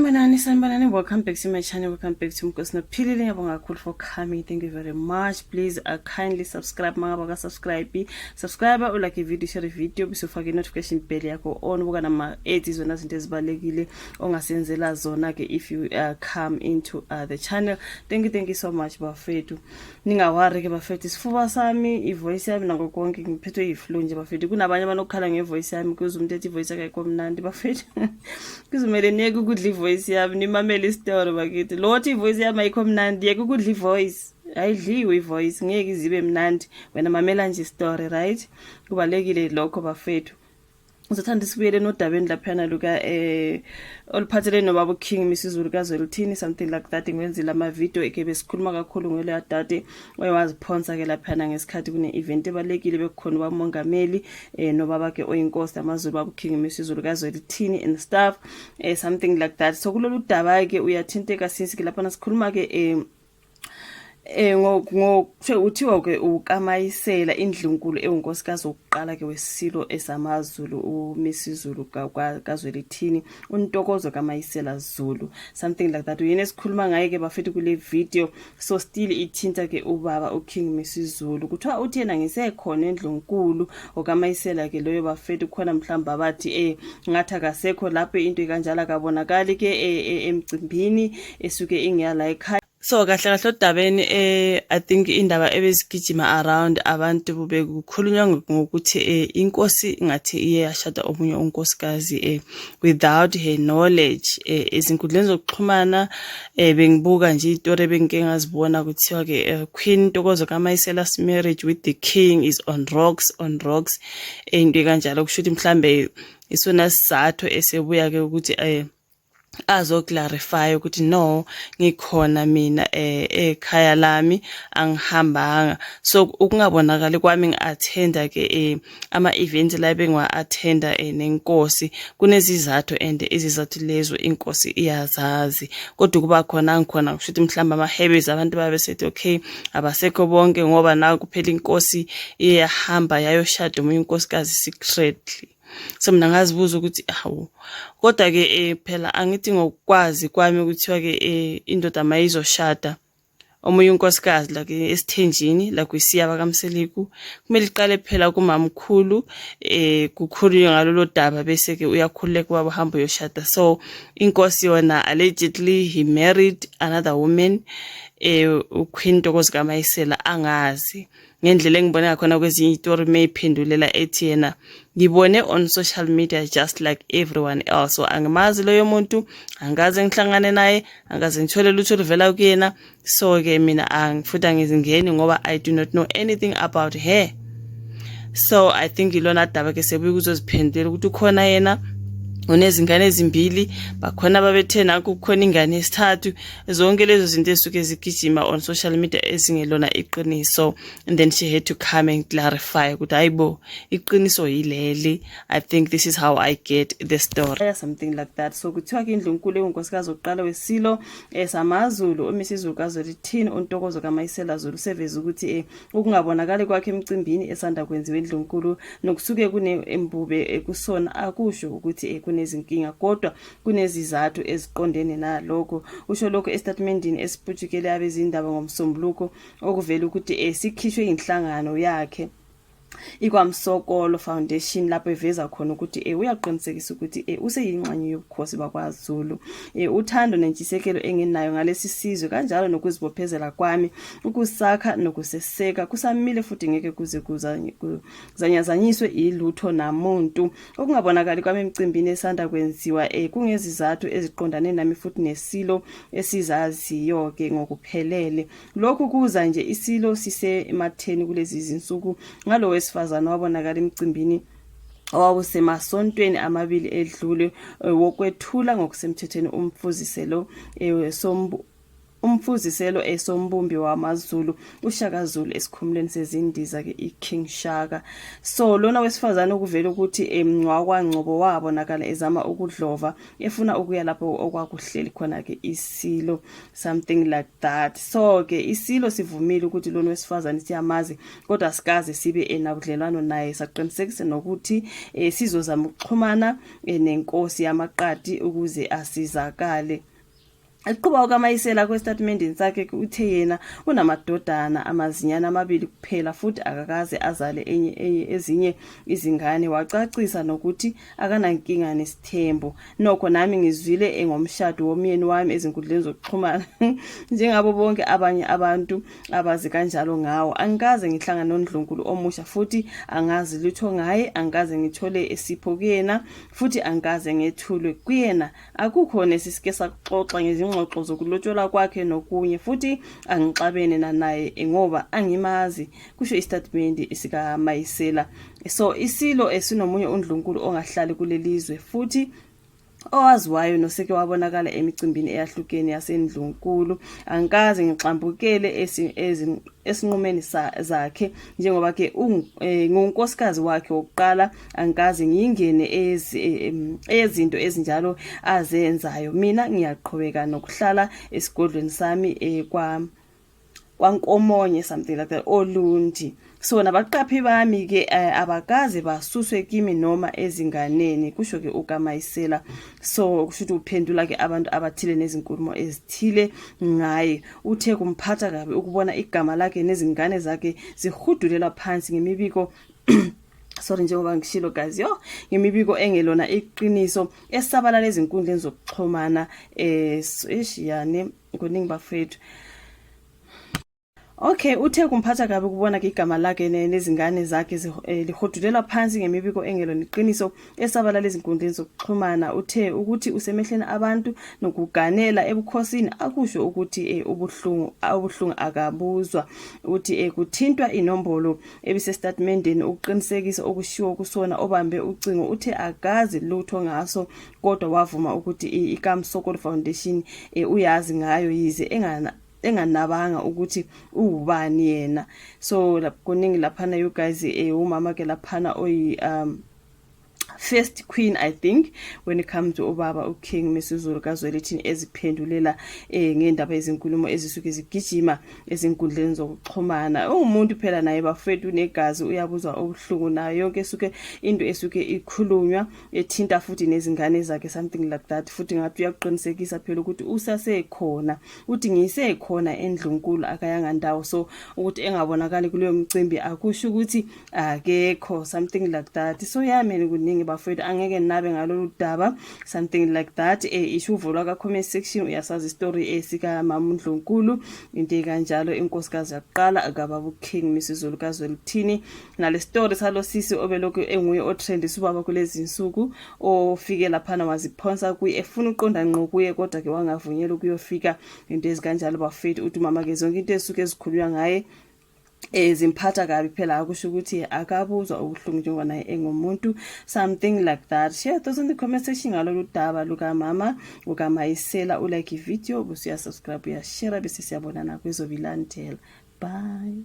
Sanibonani, sanibonani, welcome back to my channel, welcome back to Mkosi Nophilile, ngiyabonga kakhulu for coming, thank you very much, please uh, kindly subscribe, mangaba ka subscribe, subscribe, u like video, share video, bese ufake notification bell yakho on, buka nama ads, zona zinto ezibalekile, ongasenzela zona ke if you uh, come into uh, the channel, thank you, thank you so much, bafethu. ningawari ke bafethu isifuba sami ivoice yami nako konke ngiphethwe yiflu nje bafethu kunabanye abanokukhala ngevoice yami kuze umuntu ethi ivoice yakhe komnandi bafethu kuzomele niyeke ukudla ivoice yami nimamele isitori bakithi lo othi ivoice yami ayikho mnandi yeke ukudla ivoice ayidliwe ivoice ngeke izibe mnandi wena mamela nje isitori right kubalekile lokho bafethu ngizothanda sibuyele nodabeni laphana luka eh oluphathelene nobaba uKing misizulu kazwelithini something like that ngiwenzile ama video ekebe sikhuluma kakhulu ngelo adade oyewaziphonsa ke laphana ngesikhathi kune event ebalekile bekukhona bamongameli eh nobaba ke oyinkosi amazulu baba uKing misizulu kazwelithini and stuff eh something like that so kulolu daba ke uyathinteka since ke laphana sikhuluma ke eh Eh ngokuthe uthiwa ke ukaMayisela indlunkulu ewunkosikazi wokuqala ke wesilo esamaZulu uMisizulu kaZwelithini untokozo kaMayisela Zulu something like that uyena esikhuluma ngaye ke bafethu kule video so still ithinta ke ubaba uKing Misizulu kuthiwa uthi yena ngisekhona endlunkulu okaMayisela ke loyo bafethu khona mhlawumbe abathi eh ngathi akasekho lapho into ikanjalo akabonakali ke eh, eh, emcimbini esuke ingeyala ekhaya so kahle kahle odabeni eh i think indaba ebezigijima around abantu bekukhulunywa ngokuthi eh inkosi ngathi iye yashada omunye unkosikazi eh without her knowledge eh izinkundleni zokuxhumana eh bengibuka nje itori bengike ngazibona kuthiwa ke eh, queen ntokozo kamayisela's marriage with the king is on rocks on rocks eh, into kanjalo kusho ukuthi mhlambe isona sizathu esebuya ke ukuthi eh azoclarify ukuthi no ngikhona mina eh, ekhaya lami angihambanga so ukungabonakali kwami ngi-athenda ke eh, ama-event la bengiwa-athenda eh, nenkosi kunezizathu and izizathu lezo inkosi iyazazi kodwa ukuba khona angikhona kusho ukuthi mhlawumbe ama-habits abantu babe sethi okay abasekho bonke ngoba nakuphela inkosi iyahamba yayoshada omunye unkosikazi secretly so mina ngazibuza ukuthi hawu kodwa-ke um phela angithi ngokwazi kwami kuthiwa-ke um indoda mayizoshada omunye unkosikazi la esithenjini la kwisiyaba kamseliku kumele iqale phela kumamkhulu eh kukhulunywe ngalolo daba bese ke uyakhululeka ubaba hamba uyoshada so inkosi yona allegedly he married another woman eh uQueen Ntokozi kaMayisela angazi ngendlela engibone ngakhona kwezinye itori meyiphendulela ethi yena ngibone on social media just like everyone else so angimazi loyo muntu angikaze ngihlangane naye angikaze ngithole lutho oluvela kuyena so-ke mina futhi angizingeni ngoba i do not know anything about her so i think ilona daba ke sebuye ukuzoziphendulela ukuthi ukhona yena unezingane ezimbili bakhona babethena kukhona ingane yesithathu zonke lezo zinto ezisuke zigijima on social media ezingelona iqiniso and then she had to come and clarify ukuthi hayi bo iqiniso yileli i think this is how i get the story something like that so kuthiwa ke indlu nkulu engunkosikazi oqala wesilo esamazulu eh, umisi izulu kazolithini untokozo kamayisela zulu seveza ukuthi eh, ukungabonakali kwakhe emcimbini esanda kwenziwa indlu nkulu nokusuke kunembube eh, kusona akusho ukuthi kunezinkinga kodwa kunezizathu eziqondene nalokho usho lokho esitatimendini esiputshukele abezindaba ngomsombuluko okuvela ukuthi eh, sikhishwe yinhlangano yakhe ikwamsokolo foundation lapho eveza khona ukuthi e, uyaqinisekisa ukuthi e, useyingxenye yobukhosi bakwazulu e, uthando nentshisekelo enginayo ngalesi sizwe kanjalo nokuzibophezela kwami ukusakha nokuseseka kusamile futhi ngeke kuze kuzanyazanyiswe ilutho namuntu Ukungabonakali kwami emcimbini esanda kwenziwa eh kungezizathu eziqondane nami futhi nesilo esizaziyo ke ngokuphelele. Lokhu kuza nje isilo sisematheni kulezi zinsuku ngalo wesifazana wabonakala emcimbini owawusemasontweni amabili edlule eh, wokwethula ngokusemthethweni umfuziselo eh, sombu Umfuziselo esombumbi wamaZulu uShaka Zulu esikhumulweni sezindiza ke iKing Shaka. So lona wesifazane ukuvela ukuthi emngcwakwa Ngcobo wabonakala ezama ukudlova efuna ukuya lapho okwakuhleli khona ke isilo something like that. So ke isilo sivumile ukuthi lona wesifazane siyamazi kodwa sikaze sibe enabudlelwano naye saqinisekise nokuthi e, sizozama ukuxhumana e, nenkosi yamaqadi ukuze asizakale. Eqhuba uKaMayisela kwesitatimendeni sakhe uthe yena unamadodana amazinyana amabili kuphela futhi akakaze azale enye enye ezinye izingane wacacisa nokuthi akanankinga nesithembu. Nokho nami ngizwile engomshado womyeni wami ezinkundleni zokuxhumana njengabo bonke abanye abantu abazi kanjalo ngawo. Angikaze ngihlangane nondlunkulu omusha futhi angazi lutho ngaye, angikaze ngithole esipho kuyena futhi angikaze ngethulwe kuyena. Akukho nesisike sakuxoxa ngezingxoxo zokulotsholwa kwakhe nokunye futhi angixabene nanaye ngoba angimazi, kusho isitatimende sikaMayisela. So isilo esinomunye undlunkulu ongahlali kulelizwe futhi owaziwayo noseke wabonakala emicimbini eyahlukene yasendlunkulu angikaze ngixambukele esinqumeni zakhe njengoba ke eh, ngiwunkosikazi wakhe wokuqala angikaze ngiyingene eyezinto ezinjalo azenzayo mina ngiyaqhubeka nokuhlala esigodlweni sami eh, kwa kwankomonye something like that olundi so nabaqaphi bami ke eh, abakaze basuswe kimi noma ezinganeni kusho ke ukamayisela so kusho ukuthi uphendula ke abantu abathile nezinkulumo ezithile ngaye uthe kumphatha kabi ukubona igama lakhe nezingane zakhe zihudulela phansi ngemibiko sorry njengoba ngishilo guys yo ngemibiko engelona iqiniso esabalala ezinkundleni zokuxhumana eh ishiyane kuningi bafethu Okay uthe kumphatha kabi kubona ke igama lakhe nezingane zakhe eh, lihodulelwa phansi ngemibiko engelona iqiniso Esabalala ezinkundleni zokuxhumana uthe ukuthi usemehlweni abantu nokuganela ebukhosini akusho ukuthi eh, ubuhlungu ubuhlungu akabuzwa uthi eh, kuthintwa inombolo ebisestatimendeni ukuqinisekisa okushiwo kusona obambe ucingo uthe akazi lutho ngaso kodwa wavuma ukuthi eh, iKamsokolo Foundation uyazi ngayo yize engana enganabanga ukuthi uwubani yena so kuningi laphana you guys eh umama ke laphana oyi um first queen i think when it comes to ubaba uking misuzulu kazwelithini eziphendulela eh ngendaba ezinkulumo ezisuke zigijima ezinkundleni zokuxhumana ungumuntu phela naye bafethu unegazi uyabuzwa obuhlungu nayo yonke esuke into esuke ikhulunywa ethinta futhi nezingane zakhe something like that futhi ngathi uyakuqinisekisa phela ukuthi usasekhona uthi ngisekhona endlunkulu akayanga ndawo so ukuthi engabonakali kuleyo mcimbi akusho ukuthi akekho something like that so yamele kuningi bafowethu angeke nabe ngalolu daba something like that e isho uvulwa ka-comment section uyasazi istory esikamama undlunkulu into ekanjalo inkosikazi yakuqala akababa uking misizulu kazwelithini nale story salo sisi obelokhu enguye otrendisa ubaba kulezi nsuku ofike laphana waziphonsa kuye efuna uqonda nqo kuye kodwa ke wangavunyelwa ukuyofika into ezikanjalo bafowethu uthi umama ke zonke into esuke ezikhulunywa ngaye eh zimphatha kabi phela akusho ukuthi akabuzwa ubuhlungu njengoba naye engumuntu something like that share those in the comment section ngalolu daba lukamama ukamayisela ulike ivideo bese uyasubscribe uyashare bese siyabonana kwezobilandela bye